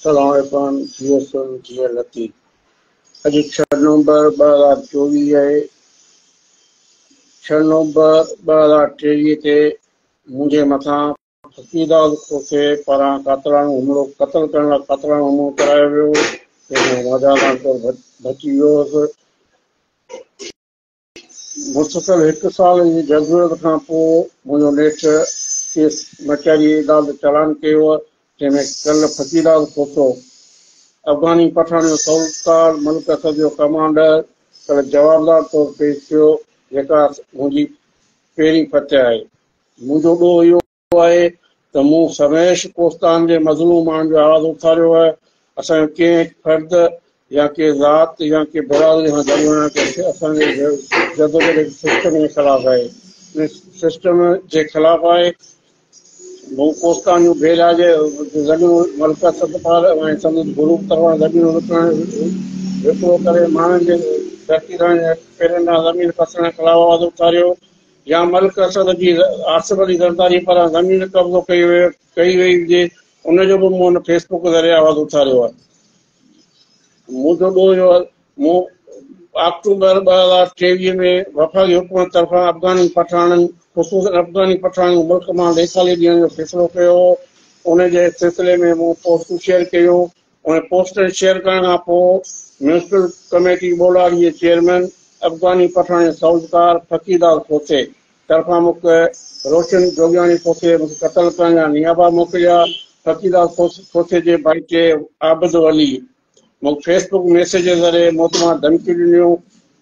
سلام عرفان جي S M G L Latif اڄ ڇهه نومبر ٻه هزار چوويهه آهي ڇهه نومبر ٻه هزار ٽيويهه تي منهنجي مٿان عقيداز کوسي پاران قاتلاڻو حملو قتل ڪرڻ لاء قاتلاڻو حملو ڪرايو ويو هو، جنهن ۾ راجا راڻڪور بچي ويو هوس. مسلسل هڪ سال جي جدوجهد کان پوء منهنجو نيٺ ڪيس ڪچهري عدالت چالان ڪيو هو، جنهن ۾ ڪل فقيداز کوسو، افغاني پٺاڻ جو سولتار، ملڪ اسد جو ڪمانڊر ڪل جوابدار طور پيش ٿيو، جيڪا منهنجي پهرين فتح آهي. منهنجو ڏوهه اهو آهي ته مون سرنهش ڪوستان جي مظلوم ماڻهن جو آواز اٿاريو آهي، اسان جو ڪنهن هڪ فرد يا ڪنهن ذات يا ڪنهن برادري سان جهڳڙو نه آهي پر اسان جي جدوجهد سسٽم جي خلاف آهي، ان سسٽم جي خلاف آهي. مون ڪوستان جون بي علاج زمينون ملڪه ستپال ۽ سندس گروپ طرفان زمينون وڪڻڻ وڪرو ڪري ماڻهن جي ڌرتي ڌڻين جي پيرن ڏانهن زمين پسڻ خلاف آواز اٿاريو، يا ملڪ اسد جي آصف علي زرداري پاران زمين قبضو ڪئي وئي ڪئي وئي هجي ان جو به مون ان فيس بوڪ ذريعي آواز اٿاريو آهي منهنجو ڏوهه جو مون آڪٽوبر ٻه هزار ٽيويهه ۾ وفاقي حڪومت طرفان افغاني پٺاڻن خصوصا افغاني پٺاڻن ملڪ مان ليسالي ڏيڻ جو فيصلو ڪيو هو ان جي سلسلي ۾ مون پوسٽون شيئر ڪيون ان پوسٽر شيئر ڪرڻ کان پوء ميونسپل ڪميٽي ٻولاڙي جي چيئرمين افغاني پٺاڻي سعودڪار ڦڪي داس کوسي طرفان مک روشن جوڳياڻي کوسي مون کي قتل ڪرڻ جا نيابا موڪليا ڦڪي داس کوسي جي ڀائيٽي عابد ولي مون کي فيس بڪ ميسيج ذريعي موت مان ڌمڪيون ڏنيون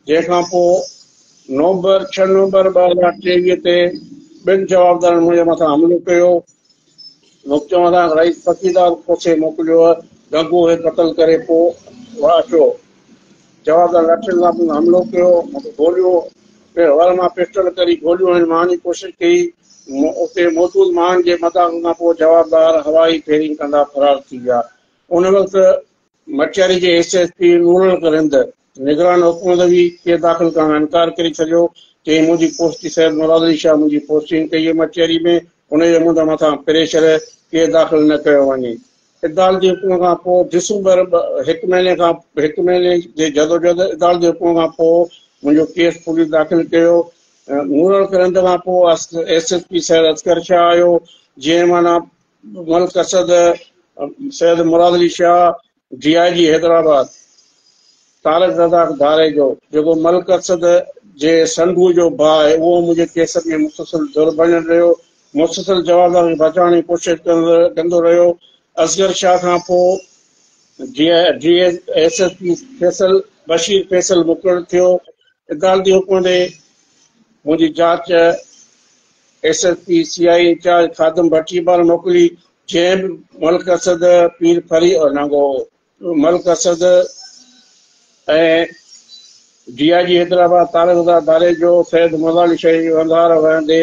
جنهن کان پوء نومبر، ڇهه نومبر ٻه هزار ٽيويهه، تي ٻن جوابدارن منهنجي مٿان حملو ڪيو. مون چوهدار رئيس فقيدار کوسي موڪليو هو. گگو کي قتل ڪري پوء وڙ اچو. جوابدارن لاٺين سان مون تي حملو ڪيو. مون کي گوليون پڻ وڙ مان پسٽل ڪري گوليون هنيون. مهڻ جي ڪوشش ڪئي. اتي موجود مهڻ جي مداخلت کان پوء جوابدار هوائي فيرنگ ڪندا فرار ٿي ويا. ان وقت مٽياري جي S S P Noorul Haq Rind نگران حڪومت به ڪيس داخل ڪرڻ کان انڪار ڪري ڇڏيو. چيائين منهنجي پوسٽي سيد مراد علي شاهه منهنجي پوسٽنگ ڪئي هئي مٽياري ۾، انهيء جو منهنجي مٿان پريشر هي ڪيس داخل نه ڪيو وڃي. عدالتي حڪم کان پوء ڊسمبر ٻه هڪ مهيني کان هڪ مهيني جي جدوجهد عدالتي حڪم کان پوء منهنجو ڪيس پوليس داخل ڪيو. مورڙ ڪرنٽ کان پوء S S P Syed Asghar Shah آيو، جنهن معنيٰ Malik Asad, Syed Murad Ali Shah, D I G Hyderabad Tariq Razzaq Dharejo جيڪو ملڪ اسد جي سنڌوء جو ڀاء آهي اهو منهنجي ڪيسن ۾ مسلسل ڌر بڻيل رهيو مسلسل جوابدار کي بچائڻ جي ڪوشش ڪندو رهيو اصغر شاهه کان پوء D I G S S P Faisal Bashir Faisal مقرر ٿيو عدالتي حڪم ڏي منهنجي جاچ S S P C I incharge Khadim Bhatti پاران موڪلي جنهن ملڪ اسد پير ڦري او ننگو Malik Asad ۽ D I G Hyderabad Tariq رضا ڌاريجو سيد مولا علي شاهي جي وندار وهندي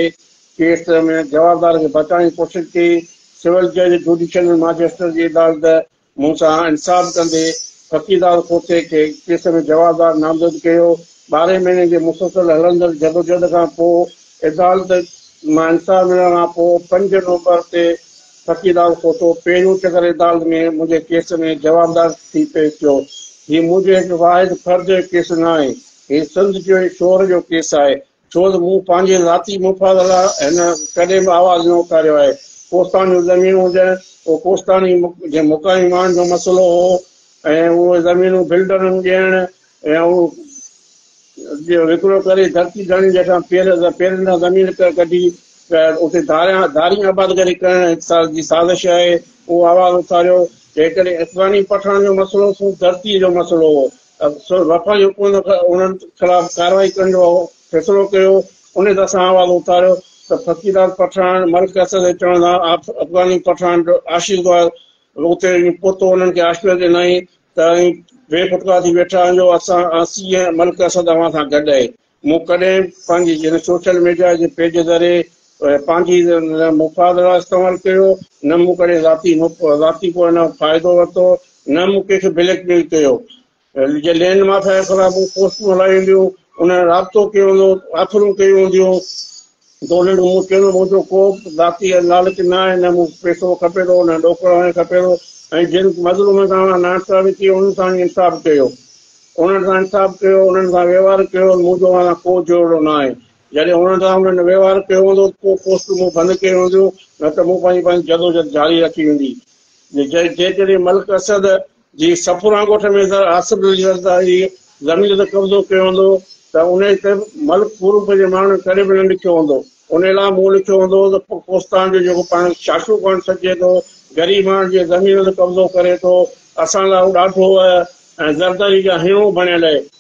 ڪيس ۾ جوابدار کي بچائڻ جي ڪوشش ڪئي سول جج جوڊيشل ماجسٽريٽ جي عدالت مون سان انصاف ڪندي فقيردار کوسي کي ڪيس ۾ جوابدار نامزد ڪيو. ٻارهين مهيني جي مسلسل هلندڙ جدوجهد کان پوء عدالت مان انصاف ملڻ کان پوء پنج نومبر تي فقيردار کوسو پهريون چڪر عدالت ۾ منهنجي ڪيس ۾ جوابدار ٿي پيش ٿيو. هي منهنجو هڪ واحد فرد جو ڪيس ناهي، هي سنڌ جو ۽ شور جو ڪيس آهي، ڇو ته مون پنهنجي ذاتي مفاد لاء هن ڪڏهن به آواز نه اٿاريو آهي. ڪوستان جون زمينون هجن، اهو ڪوستاني جي مقامي ماڻهن جو مسئلو هو ۽ اهي زمينون بلڊرن ڏيڻ ۽ اهو جو وڪرو ڪري ڌرتي ڌڻين جي هيٺان پير پيرن تان زمين ڪڍي اتي ڌاريان ڌارين آبادگاري ڪرڻ جي سازش آهي، اهو آواز اٿاريو، جيڪڏهن افغاني پٺاڻ جو مسئلو سون ڌرتي جو مسئلو هو. سو وفاقي حڪومت انهن خلاف ڪارروائي ڪرڻ جو فيصلو ڪيو. انهيء دور سان آواز اٿاريو ته فقيران پٺاڻ ملڪ اسد جي چوڻ سان افغاني پٺاڻ جو عاشق هئا. اتي ائين پهتو انهن کي آشپريت ڏنائين ته ائين بي ڦٽڪار ٿي ويٺا آهيو، اسان سي ايم ملڪ اسد اوهان سان گڏ آهي. مون ڪڏهن پنهنجي جن سوشل ميڊيا جي پيج ذريعي پنهنجي نه مفاد لاء استعمال ڪيو، نه مون ڪڏهن ذاتي ذاتي ڪو ان فائدو ورتو، نه مون ڪنهن کي بليڪ ميل ڪيو. جي لينڊ مافيا خلاف مون پوسٽون هلايون هونديون، انهن رابطو ڪيو هوندو، آفرون ڪيون هونديون، دوليل مون کي نه منهنجو ڪو به ذاتي لالچ نه آهي، نه مون کي پيسو کپي ٿو، نه ڏوڪڙ هڻي کپي ٿو ۽ جن مظلومن سان اوهان ناانصافي ڪئي انهن سان ئي انصاف ڪيو، انهن سان انصاف ڪيو، انهن سان وهنوار ڪيو، منهنجو اوهان سان ڪو جهيڙو نه آهي، جڏهن انهن سان انهن وهنوار ڪيو هوندو ته ڪو پوسٽون مون بند ڪيون هونديون نه ته مون پنهنجي پنهنجي جدوجھد جاري رکي هوندي، جيڪڏهن ملڪ اسد جي صفوران ڳوٺ ۾ سر آصف علي زرداري زمين تي قبضو ڪيو هوندو ته انهيء تي ملڪ پورب جي ماڻهن ڪڏهن به نه لکيو هوندو. انهيء لاء مون لکيو هوندو ته ڪوستان جو جيڪو پاڻ کي شاشو پوائنٽ سڏجي ٿو، غريب ماڻهن جي زمين تي قبضو ڪري ٿو، اسان لاء هو ڏاڍو ۽ زرداري جا هينئون بڻيل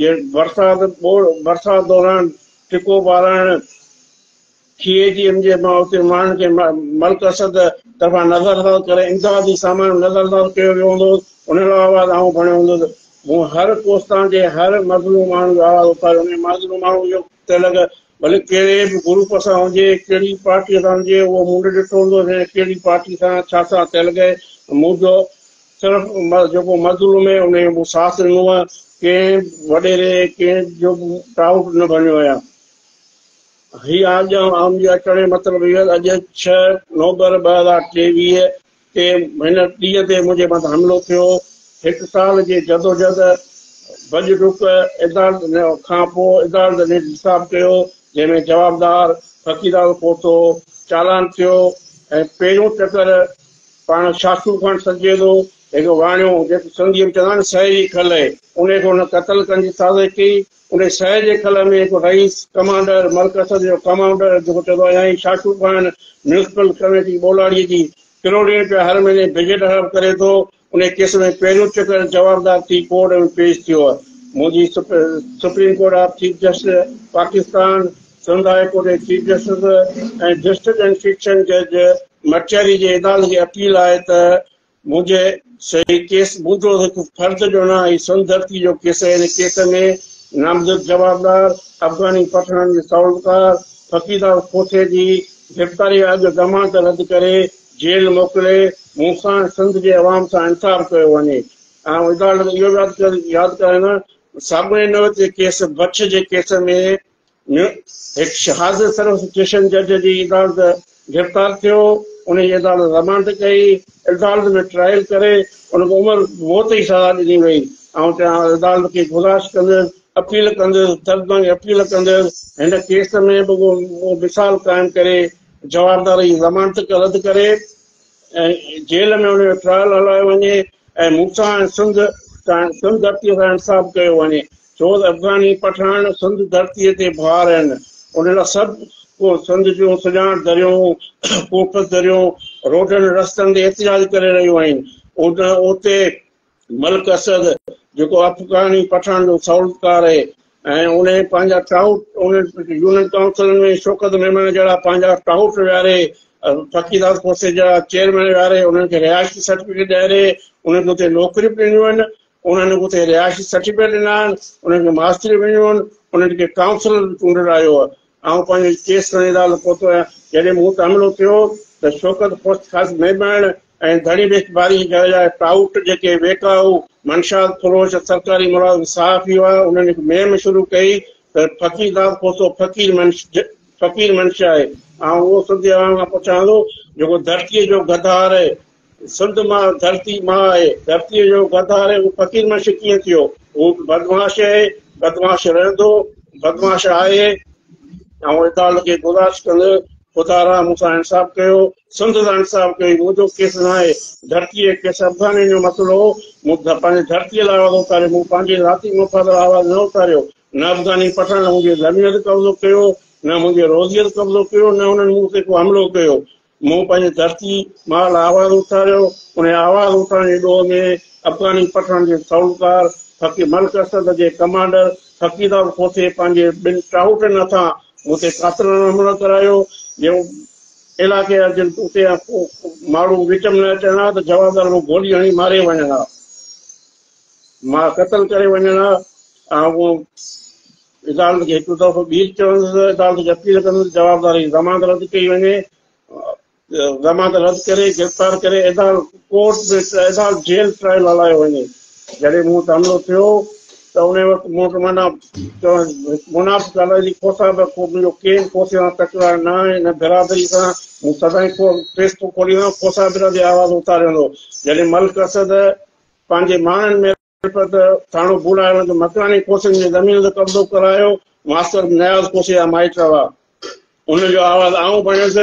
جي برسات برسات دوران ٽڪو ٻارائڻ سي ايچ ايم جي مان اتي ماڻهن کي ملڪ اسد طرفان نظرانداز ڪري امدادي سامان نظرانداز ڪيو ويو هوندو انهن لاء آواز آئون کڻيو هوندو ته مون هر ڪوستان جي هر مظلوم ماڻهن جو آواز اٿاريو ۽ مظلوم ماڻهن جو تلڪ ڀلي ڪهڙي به گروپ سان هجي، ڪهڙي پارٽيء سان هجي، اهو مون نه ڏٺو هوندو ته هن ڪهڙي پارٽيء سان ڇا ساٿ ٿيل گهي. منهنجو صرف جيڪو مظلوم هي، انهيء جو مون ساٿ ڏنو هو. ڪنهن وڏيري ۽ ڪنهن جو به ٽائوٽ نه ڀڃيو هيم. هيء آجيان آمريڪا چڙهڻ جو مطلب هيو ته اڄ ڇهه نومبر ٻه هزار ٽيويهه تي هن ڏينهن تي منهنجي مٿان حملو ٿيو. هڪ سال جي جدوجهد، ڀڄ ڊڪ، عدالت کان پوء عدالت نيٺ حساب ڪيو، جنهن ۾ جوابدار فقيرال پوتو چالان ٿيو ۽ پهريون چڪر پاڻ شاخو خان سڏجي ٿو، هڪ واڻيو جيڪو سنڌيء ۾ چوندا آهن نه سهيڙي کلئي، انهيء کي هن قتل ڪرڻ جي سازش ڪئي. انهيء شهر جي قلعي ۾ هڪ رئيس، ڪمانڊر، مرڪث جو ڪمانڊر جيڪو چئبو آهي يا ئي شاٽو خان، ميونسپل ڪميٽي ٻولاڙيء جي ڪروڙين رپيا هر مهيني بجيٽ حرام ڪري ٿو، انهيء ڪيس ۾ پهريون چڪر جوابدار ٿي ڪورٽ ۾ پيش ٿيو. منهنجي supreme court of chief justice Pakistan, Sindh high court جي chief justice ۽ district and section جج مٽياري جي عدالت کي اپيل آهي ته منهنجي صحيح ڪيس موجب هڪ فرد ڏونا ۽ سن ڌرتي جو ڪيس هن ڪيس ۾ نامزد جوابدار افغاني پٺاڻ جي سالوڪار فقيرال کوسي جي گرفتاري اڳ ضمانت رد ڪري جيل موڪلي مون سان ۽ سنڌ جي عوام سان انصاف ڪيو وڃي آئون عدالت کي اهو به ياد ڪرائيندس ساڳئي نوعيت جي ڪيس بڇ جي ڪيس ۾ ۾ هڪ شهاز سروس اسٽيشن جج جي عدالت گرفتار ٿيو، ان جي عدالت رمانڊ ڪئي، عدالت ۾ ٽرائل ڪري ان کي عمر موت جي سزا ڏني وئي، آئون تنهن هنڌ عدالت کي گذارش ڪندس، اپيل ڪندس، دردناڪ اپيل ڪندس، هن ڪيس ۾ رڳو اهو مثال قائم ڪري جوابدار جي ضمانت رد ڪري، جيل ۾ هن جو ٽرائل هلايو وڃي ۽ مون سان ۽ سنڌ سان سنڌ ڌرتي سان انصاف ڪيو وڃي ڇو ته افغاني پٺاڻ سنڌ ڌرتي تي بار آهن ان لاء سڀ ڪو سنڌ جون سڃاڻ دريون خوبصورت دريون روڊن رستن تي احتجاج ڪري رهيون آهن اتي ملڪ اسد جيڪو افغاني پٺاڻن جو سهولتڪار اهي ۽ انهن پنهنجا ٽائوٽ انهن يونين ڪائونسلن ۾ شوڪت ميمڻ جهڙا پنهنجا ٽائوٽ ويهاري فقيرات کوسي جا چيئرمين ويهاري انهن کي رهائشي سرٽيفڪيٽ ڏياري انهن کي اتي نوڪريون به ڏنيون آهن انهن کي اتي رهائشي سرٽيفڪيٽ ڏنا آهن انهن کي ماستريون به ڏنيون آهن انهن کي ڪائونسلر به چونڊرايو آئون پنهنجو ڪيس کڻي عدالت پهتو آهيان، جڏهن مون تي حملو ٿيو ته شوڪت خوست خاص ميمڻ ۽ ڌڻي ويچ ڀاري جي گهر جا ٽائوٽ جيڪي ويڪائو، منشيات فروش، سرڪاري ملازم، صحافي هئا انهن هڪ مهم شروع ڪئي ته فقير داد کوسو فقير منش فقير منش آهي، آئون اهو سنڌي عوام کان پڇان ٿو جيڪو ڌرتيء جو غدار سنڌ ماء ڌرتي ماء آهي. ڌرتيء جو غدار هو فقير منشي ڪيئن ٿيو؟ هو به بدمعاش آهي، بدمعاش رهندو، بدمعاش آهي. آئون عدالت کي گذارش ڪندس، خدا را مون سان انصاف ڪيو، سنڌ سان انصاف ڪيو، هي منهنجو ڪيس ناهي، ڌرتيء جي ڪيس افغانين جو مسئلو هو، مون پنهنجي ڌرتيء لاء آواز اٿاريو، مون پنهنجي ذاتي مفاد لاء آواز نه اٿاريو، نه افغاني پٺاڻن منهنجي زمين تي قبضو ڪيو، نه منهنجي روزيء تي قبضو ڪيو، نه انهن مون تي ڪو حملو ڪيو. مون پنهنجي ڌرتي ماء لاء آواز اٿاريو، انهيء آواز اٿارڻ جي ڏوهه ۾ افغاني پٺاڻن جي سهولتڪار فقير ملڪ اسد جي ڪمانڊر فقيراب کوسي پنهنجي ٻن ٽاهوٽن هٿان مون تي قاتلانه حملو ڪرايو، جو علائقي جا جن توتي يا ڪو ماڙهو وچ ۾ نه اچن ها ته جوابدار رڳو گولي هڻي ماري وڃن ها، ماء قتل ڪري وڃن ها ۽ اهو عدالت کي هڪڙو دفعو ٻيهر چيو ويندو ته عدالت کي اپيل ڪندو ته جوابدار جي ضمانت رد ڪئي وڃي. ضمانت رد ڪري گرفتار ڪري عدالت ڪورٽ ۾ عدالت جيل ٽرائل هلايو وڃي. جڏهن مون وٽ حملو ٿيو ته انهي وقت مون وٽ معنيٰ چوڻ هڪ منافق الائي جي کوسا به ڪو منهنجو ڪين کوسي سان تڪرار نه آهي نه برادري سان مون سدائين کو پريس ٿو کولي ويهان کوسا برادري آواز اٿاري ويندو جڏهن ملڪ اسد پنهنجي ماڻهن ۾ ترپت ٿاڻو ڀوڏاڻ جو مڪاني ڪوسين جي زمين تي قبضو ڪرايو، ماستر نياز ڪوسي جا مائٽ هئا. ان جو آواز آئون بڻيس،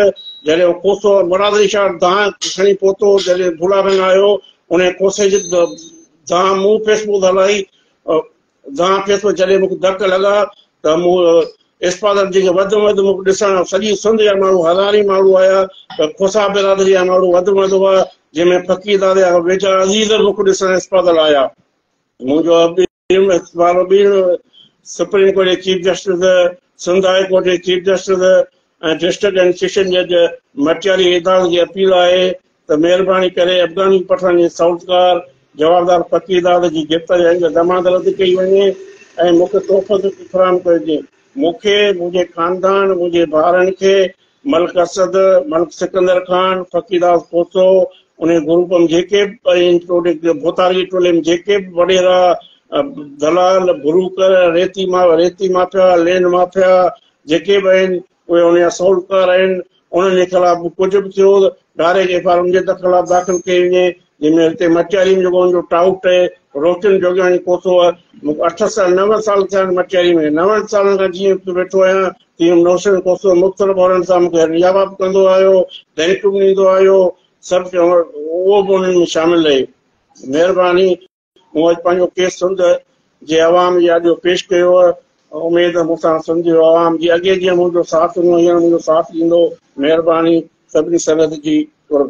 جڏهن هو ڪوسو مراد علي شاهه دانهن کڻي پهتو، جڏهن ڀوڏاڻ آيو، انهيء ڪوسي جي دانهن مون پيس پوڌ هلائي، دانهن پيس پوڌ جڏهن مون کي ڌڪ لڳا ته مون اسپالر جيڪي وڌ ۾ وڌ مون کي ڏسڻ آيا، سڄي سنڌ جا ماڻهو هزارين ماڻهو آيا پر کوسا برادري جا ماڻهو وڌ ۾ وڌ هئا، جنهن ۾ فقيرداد جا ويجها عزيز به مون کي ڏسڻ اسپالر آيا. منهنجو ٻيڻ اسپالر ٻيڻ سپريم ڪورٽ جي chief justice, Sindh high court جي chief justice ۽ district and session جج مٽياري ايداز جي اپيل آهي ته مهرباني ڪري افغاني پٺاڻن جي سعوتڪار جوابدار پڪي داد جي گرفتاري آئين جا ضمانت رد ڪئي وڃي ۽ مون کي تحفو طور تي فراهم ڪيو وڃي. مون کي، منهنجي خاندان، منهنجي ڀائرن کي، ملڪ اسد، ملڪ سڪندر خان، فقير داد کوسو، انهي گروپ م جيڪي به ۽ ٽوڙي ڀوتاري جي ٽولي م جيڪي به وڏيرا، دلال، بروڪر، ريتي ماء، ريتي مافيا، لينڊ مافيا جيڪي به آهن، اهي انهي جا سهولتڪار آهن، انهن جي خلاف به ڪجهه به ٿيو ته ڊائريڪٽ ايف آء آر انهن جي در خلاف داخل ڪئي وڃي، جنهن ۾ هتي مٽياري ۾ جيڪو ان جو ٽائوٽ اهي روشن جوڳياڻي پهتو آهي، مون کي اٺ سال نو سال ٿيا آهن مٽياري ۾ نون سالن کان جيئن اتي ويٺو آهيان تيئن روشن پهتو مختلف عهدن سان مون کي ريا وا به ڪندو آيو، ڌمڪيون به ڏيندو آيو، سڀ اهو به انهن ۾ شامل رهي. مهرباني. مون اڄ پنهنجو ڪيس سنڌ جي عوام جي آڏيو پيش ڪيو آهي، اميد ته مون سان سنڌ جي عوام جي اڳي جيئن منهنجو ساٿ ڏنو هينئر منهنجو ساٿ ڏيندو، مهرباني سڀني سنگت جي قرب.